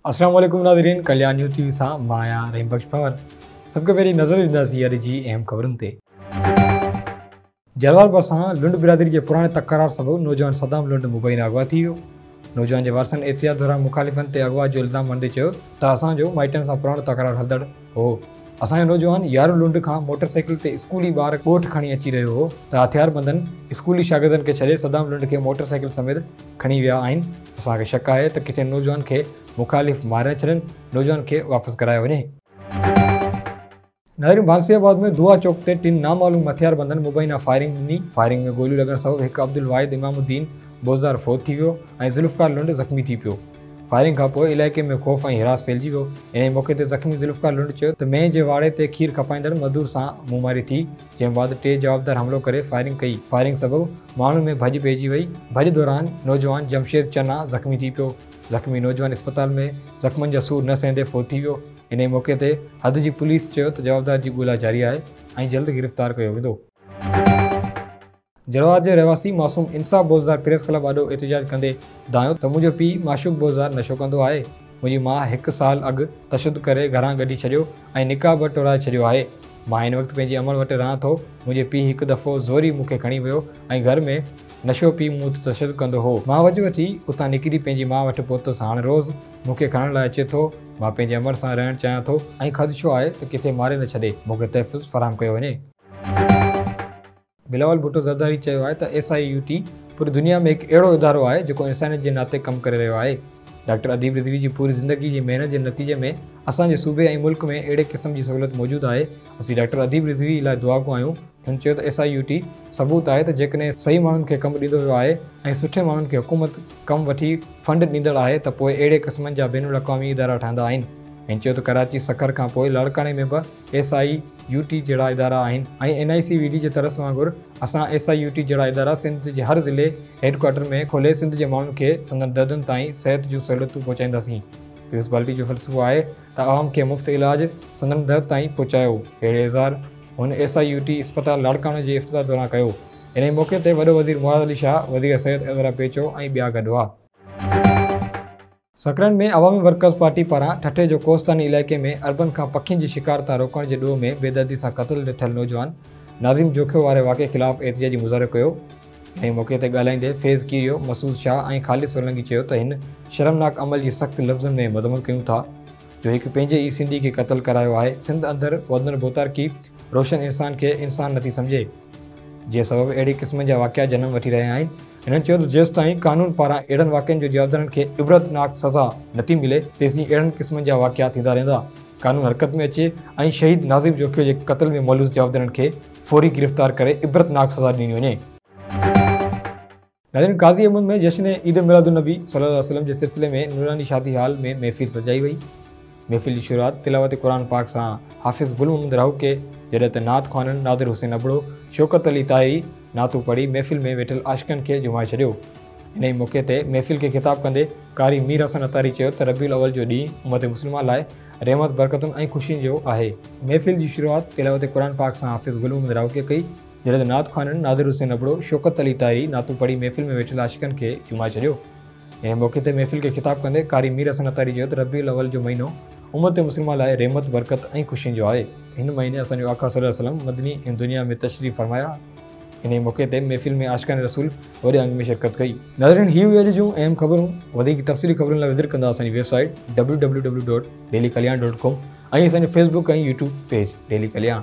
السلام عليڪم ناظرين ڪليان نيوز ٽي وي سان مان آهيان رحيم بخش پنور سڀ کان پهرين نظر ڏينداسين اڄ جي اهم خبرن تي جروار ڀرسان لنڊ برادري جي پراڻي تڪرار سبب نوجوان صدام لنڊ مبينا اغوا ٿي ويو نوجوان جي وارثن احتجاج دوران مخالفن تي اغوا جو الزام هڻندي چيو ته اسان جو مائٽن سان پراڻو تڪرار هلندڙ هو، اسان جو نوجوان يارو لنڊ کان موٽر سائيڪل تي اسڪولي ٻار ڳوٺ کڻي اچي رهيو هو ته هٿياربندن اسڪولي شاگردن کي ڇڏي صدام لنڊ کي موٽر سائيڪل سميت کڻي ويا آهن، اسان کي شڪ آهي ته ڪٿي نوجوان کي مخالف ماري نه ڇڏين، نوجوان کي واپس گهرايو وڃي. نهرين ڀانسي آباد ۾ دعا چوڪ تي ٽن نامعلوم هٿياربندن مبينا فائرنگ ڏني، فائرنگ ۾ گوليون لڳڻ سبب هڪ عبدالواحد امام الدين بوزدار فوت ٿي ويو ۽ ذوالفقار لنڊ زخمي ٿي پيو، فائرنگ کانپوء علائقي ۾ خوف ۽ هراس ڦهلجي ويو، انهيء موقعي تي زخمي ذوالفقار لنڊ چيو ته مينهن جي واڙي تي کير کپائيندڙ مزدور سان منهن ماري ٿي، جنهن بعد ٽي جوابدار حملو ڪري فائرنگ ڪئي، فائرنگ سبب ماڻهن ۾ ڀڄ پئجي وئي، ڀڄ دوران نوجوان جمشيد چنا زخمي ٿي پيو، زخمي نوجوان اسپتال ۾ زخمن جا سور نه سهندي فوت ٿي ويو. انهيء موقعي تي حد جي پوليس چيو ته جوابدار جي ڳولا جاري آهي ۽ جلد گرفتار ڪيو ويندو. جروار جي رهواسي معصوم انصاف بوزدار پريس ڪلب آڏو احتجاج ڪندي دانهيو ته منهنجو پيء معشوق بوزدار نشو ڪندو آهي، منهنجي ماء هڪ سال اڳ تشدد ڪري گهران ڪڍي ڇڏيو ۽ نڪاح به ٽوڙائي ڇڏيو آهي، مان هن وقت پنهنجي امڙ وٽ رهان ٿو، منهنجي پيء هڪ دفعو زوري مون کي کڻي ويو ۽ گهر ۾ نشو پي مون تي تشدد ڪندو هو، مان وڄ وٺي اتان نڪري پنهنجي ماء وٽ پهتس، هاڻ روز مون کي کڻڻ لاء اچي ٿو، مان پنهنجي امڙ سان رهڻ چاهيان ٿو ۽ خدشو آهي ته ڪٿي ماري نه ڇڏي، مون کي تحفظ فراهم ڪيو وڃي. بلاول ڀٽو زرداري چيو آهي ته ايس آء يو ٽي پوري دنيا ۾ هڪ اهڙو ادارو آهي جيڪو انسانيت جي ناتي ڪم ڪري رهيو آهي. ڊاڪٽر اديب رضوي جي پوري زندگي جي محنت جي نتيجي ۾ اسان جي صوبي ۽ ملڪ ۾ اهڙي قسم جي سهولت موجود آهي، اسين ڊاڪٽر اديب رضوي لاء دعاگو آهيون، هن چيو ته ايس آء يو ٽي ثبوت آهي ته جيڪڏهن صحيح ماڻهن کي ڪم ڏيندو ويو آهي ۽ سٺي ماڻهن کي حڪومت ڪم وٺي فنڊ ڏيندڙ آهي ته پوء اهڙي قسمن جا بين الاقوامي ادارا ٺهندا آهن. هن چيو ته ڪراچي سکر کان پوء لاڙڪاڻي ۾ به ايس آء يو ٽي جهڙا ادارا آهن ۽ N I C V D جي ترس وانگر اسان ايس آء يو ٽي جهڙا ادارا سنڌ جي هر ضلعي هيڊڪوارٽر ۾ کولي سنڌ جي ماڻهن کي سندن دردن تائين صحت جون سهولتون پهچائينداسين. پيوس بالٽي جو فلسفو آهي ته عوام کي مفت علاج سندن در تائين پهچايو اهڙي اظهار هن ايس آء يو ٽي اسپتال لاڙڪاڻو جي افتتاح دوران ڪيو. انهيء موقعي تي وڏو وزير معاذ علي شاهه، وزير صحت عذرا پيچو ۽ ٻيا گڏ هئا. سکرن ۾ عوامي ورڪرز پارٽي پاران ٺٽي جو ڪوهستاني علائقي ۾ اربن کان پکين جي شڪار تان روڪڻ جي ڏوهه ۾ بيدردي سان قتل ٿيل نوجوان ناظم جوکيو واري واقعي خلاف احتجاجي مظاهرو ڪيو. انهيء موقعي تي ڳالهائيندي فيض ڪيريو، مسعود شاهه ۽ خالد سولنگي چيو ته هن شرمناڪ عمل جي سخت لفظن ۾ مذمت ڪيون ٿا. جو هڪ پنهنجي ئي سنڌي کي قتل ڪرايو آهي. سنڌ اندر وڌندڙ ڀوتارڪي روشن انسان کي انسان نٿي سمجهي. جنهن سبب اهڙي قسم جا واقعا جنم وٺي رهيا آهن. هنن چيو ته جيستائين قانون پاران اهڙن واقعن جو جوابدارن کي عبرتناڪ سزا نٿي ملي تيسين اهڙن قسمن جا واقعا ٿيندا رهندا. قانون حرڪت ۾ اچي ۽ شهيد ناظم جوکيو جي قتل ۾ ملوث جوابدارن کي فوري گرفتار ڪري عبرتناڪ سزا ڏني وڃي. نارين قاضي احمد ۾ جشن عيد ميلاد النبي صلي الله عليه وسلم جي سلسلي ۾ نوراني شادي هال ۾ محفل سجائي وئي. محفل جي شروعات تلاوت قرآن پاڪ سان حافظ گل محمد راهوڪي جڏهن ته نعت خوانن نادر حسين ابڙو، شوڪت علي طاهري نعتون پڙهي محفل ۾ ويٺل عاشقن کي جهومائي ڇڏيو. انهيء موقعي تي محفل کي خطاب ڪندي قاري مير حسن عطاري چيو ته ربيع الاول جو ڏينهن امت مسلمه لاء رحمت، برڪتن ۽ خوشين جو آهي. محفل جي شروعات تلاوت قرآن پاڪ سان حافظ گل محمد راهوڪي ڪئي. جڏهن ته نعت خوانن نادر حسين ابڙو، شوڪت علي طاهري نعتون پڙهي محفل ۾ ويٺل عاشقن کي جهومائي ڇڏيو. انهيء موقعي تي محفل کي خطاب ڪندي قاري مير حسن عطاري چيو ته ربيع الاول جو مهينو امت مسلمه لاء رحمت، برڪت ۽ خوشين جو آهي. هن مهيني اسان جو آقا صلي الله عليه وسلم مدني ۽ دنيا ۾ تشريف فرمايا. انهيء موقعي تي محفل ۾ عاشقان رسول وڏي انگ ۾ شرڪت ڪئي. ناظرين هي هيون اڄ جون اهم خبرون. وڌيڪ تفصيلي خبرن لاء وزٽ ڪندا اسان جي website W W W dot daily Kalyan dot com ۽ اسان جو facebook ۽ YouTube page daily Kalyan.